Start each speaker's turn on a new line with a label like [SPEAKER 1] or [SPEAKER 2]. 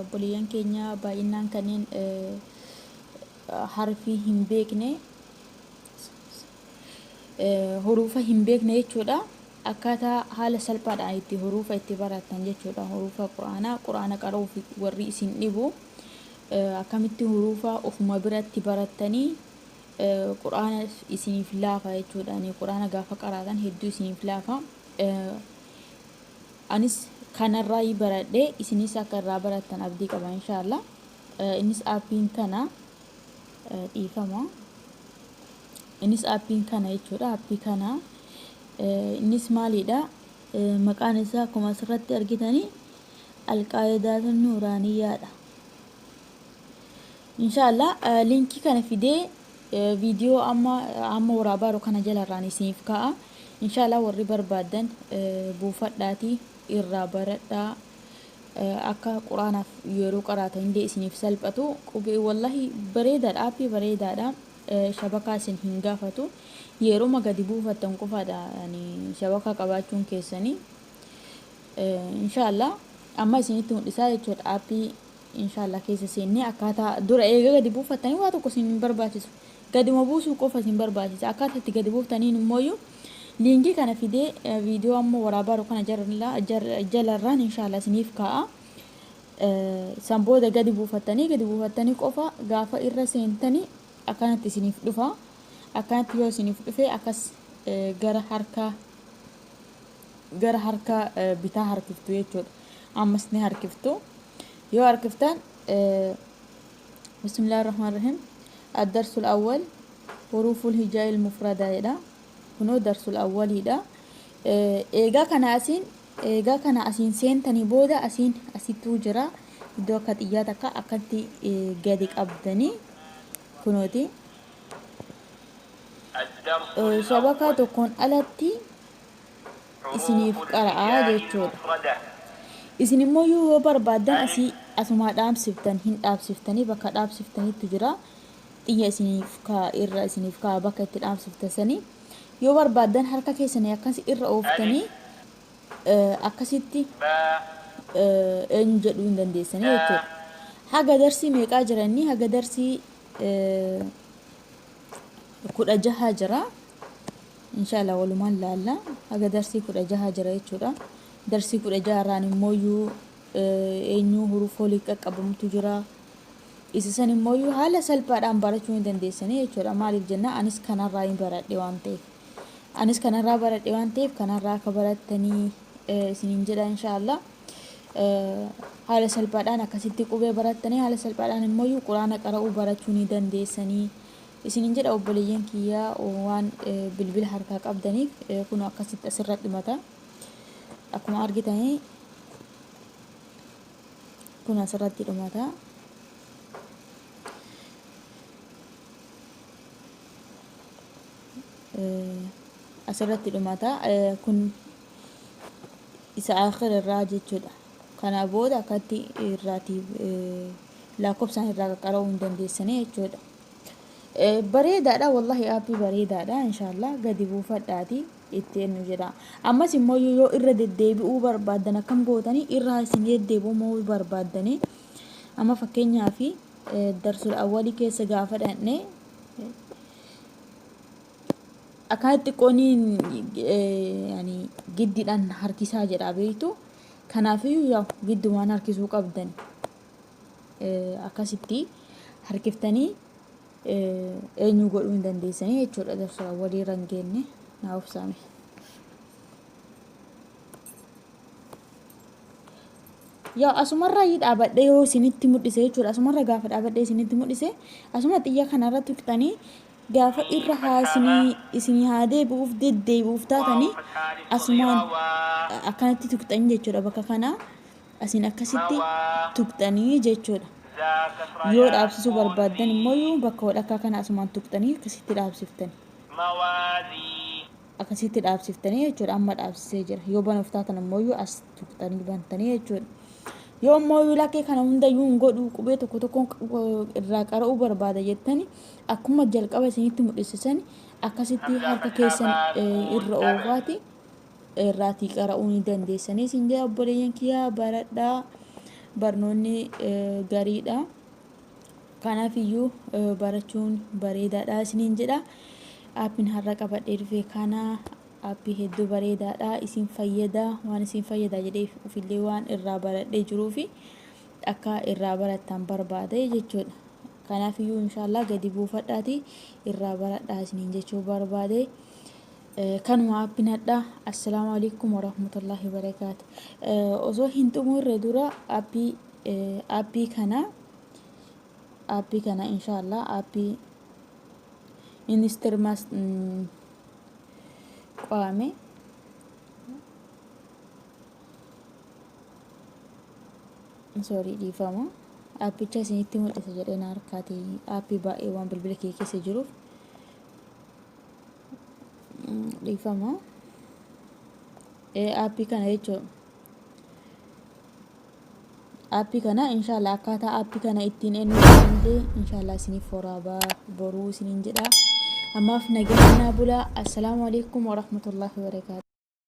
[SPEAKER 1] Obboleeyyan keenya baay'innaan kanneen harfii hin beekne huruufa hin beekne jechuudha. Akkaataa haala salphaadhaan itti huruufa itti barattan jechuudha. Huruufa Qur'aanaa Qur'aana qara'uuf warri isin dhibu akkamitti huruufa ofuma biratti barattanii Qur'aana isiniif laafa jechuudha. Qur'aana gaafa qaraatan hedduu isiniif laafa. Anis kanarraayi baradhe isinis akka irraa barattan abdii qaba inshaallah. Innis appiin kana dhiifama. Innis appiin kana jechuudha appii kana. Innis maalidha? Maqaan isaa akkuma asirratti argitanii alqaayidaatun nuuraaniyyaadha. Inshaallah liinkii kana fidee Video amma amma waraabaa jiru kana jalarraan isiniif kaa'a. Inshaallah warri barbaaddan buufadhaati irraa baradhaa. Akka quraanaaf yeroo qaraatan illee isiniif salphatu. Qubee wallahi bareedaadha aappii bareedaadha. Shabakaa isin hin gaafatu. Yeroma gadi buufattan qofaadha ani shabakaa qabaachuun keessanii. Inshaallah amma isinitti mul'isaa jechuudha aappii Inshallah keessa seennee akkaataa dura eega gadi buufattanii waa tokko isin hin barbaachisu. Gaduma buusuu qofa isin barbaachisa. Akkaataa itti gadi buuftaniin immooyyuu liinkii kana fidee viidiyoo amma waraabaaru kana jalarraan inshallah isiniif kaa'a. San booda gadi buufattanii gadi buufattanii qofa gaafa irra seentanii akkanatti isiniif dhufa. Akkanatti yoo isiniif dhufe akkas gara harka gara harka bitaa harkiftu jechuudha ammas ni harkiftu yoo harkiftan bismillah rahman rahim addarsul awwal huruuful hijaa il mufradaa jedha kunoo darsul awwaliidha eegaa kana asiin eegaa kana asiin seentanii booda asiin asittuu jira iddoo akka xiyyaa takka akkatti gadi qabdanii kunooti shabakaa tokkoon alatti isiniif qara'aa jechuudha. Isin immoo yuu yoo barbaaddan asii asumaa dhaabsiftan hin dhaabsiftanii bakka dhaabsiftanitti jira. Xiyya isiniif kaa irra isiniif kaa bakka itti dhaabsiftan sanii. Yoo barbaaddan harka keessanii akkasi irra ooftanii akkasitti eenyu jedhuu hin dandeessanii jechuudha. Haga darsii meeqaa jiranii haga darsii kudha jaha jira inshallah walumaan laalla haga darsii kudha jaha jira jechuudha darsii kudha jaha irraan immooyyuu eenyuu huruuf olii qaqqabamtu jira isa san immooyyuu haala salphaadhaan barachuu ni dandeessanii jechuudha maaliif jenna anis kanarraa hin baradhe waan ta'eef anis kanarraa baradhe waan ta'eef kanarraa akka barattanii isiniin jedha inshallah haala salphaadhaan akkasitti qubee barattanii haala salphaadhaan immoo quraana qara'uu barachuu ni dandeessanii isinin jedha obboleeyyan kiyya waan bilbila harkaa qabdaniif kun akkasitti asirra dhimata akkuma argitanii kun asirratti dhumata asirratti dhumata kun isa aakhir irraa jechuudha kana booda akkatti irraati lakkoofsaan irraa qaqqara'uu hin dandeessanii jechuudha bareedaadha wallahi aappii bareedaadha inshaallah gadi buufadhaati itti ennu jira ammas immoo yoo irra deddeebi'uu barbaaddan akkam gootanii irraa isin deddeebi'uu barbaaddanii amma fakkeenyaaf darsul awwalii keessa gaafa dhaqne Akaa xiqqooni yani giddidhan harkisaa jedhaa beektu kanaafiyyuu yaa giddumaan harkisuu qabdan akkasitti harkiftanii eenyu godhuu hin dandeessanii jechuudha darsa walii rangeenne naa obsaame. Yaa asumarraa yi dhaabadhee yoo isinitti mul'ise jechuudha asumarra gaafa dhaabadhee isinitti mul'ise asuma xiyya kanarra tuqxanii Gaafa irra haasnii isinii haa deebi'uuf deddeebi'uuf taatanii asumaan akkanatti tuqxanii jechuudha bakka kanaa asiin akkasitti tuqxanii jechuudha yoo dhaabsisuu barbaaddan immoo bakka walakkaa kana asumaan tuqxanii akkasitti dhaabsiftani. Akkasitti dhaabsiftanii jechuudha. Amma dhaabsisee jira. Yoo banuuf taatan ammoo as tuqxanii bantanii jechuudha. Yoo ammoo lakkee kana hundayyuu hin godhu qubee tokko tokkoon irraa qara'uu barbaada jettani akkuma jalqaba isinitti mul'isisan akkasitti harka keessan irra oofaati irraatii qara'uu ni dandeessanii isin jedha obboleeyyan kiyyaa baradhaa barnoonni gariidha. Kanaaf iyyuu barachuun bareedaadha isiniin jedha. Aappiin har'a qabadhee dhufe kana aappii hedduu bareedaadha isin fayyada waan isin fayyada jedhee ofillee waan irraa baradhee jiruu fi akka irraa barattan barbaade jechuudha. Kanaaf iyyuu inshaallah gadi buufadhaati irraa baradhaa isiniin jechuu barbaade. Kanuma aappiin hadha assalaamu alaikum warahmatullahi wabarakaatu. Osoo hin xumurre dura aappii Appii kana appii kana insha Allah appii instirmas qaame sorry dhiifama appicha isinitti mul'isa jedhee na harkaati appii baay'ee waan bilbila kee keessa jiruuf dhiifama appii kana jechuudha. Aappii kana inshaallah akkaataa aappii kana ittiin eenyu illee inshaallah isiniif horaabaa boruu isiniin jedha. Ammaaf nageenya naa bulaa. Assalaamu alaikum warahmatullahi wabarakaatu.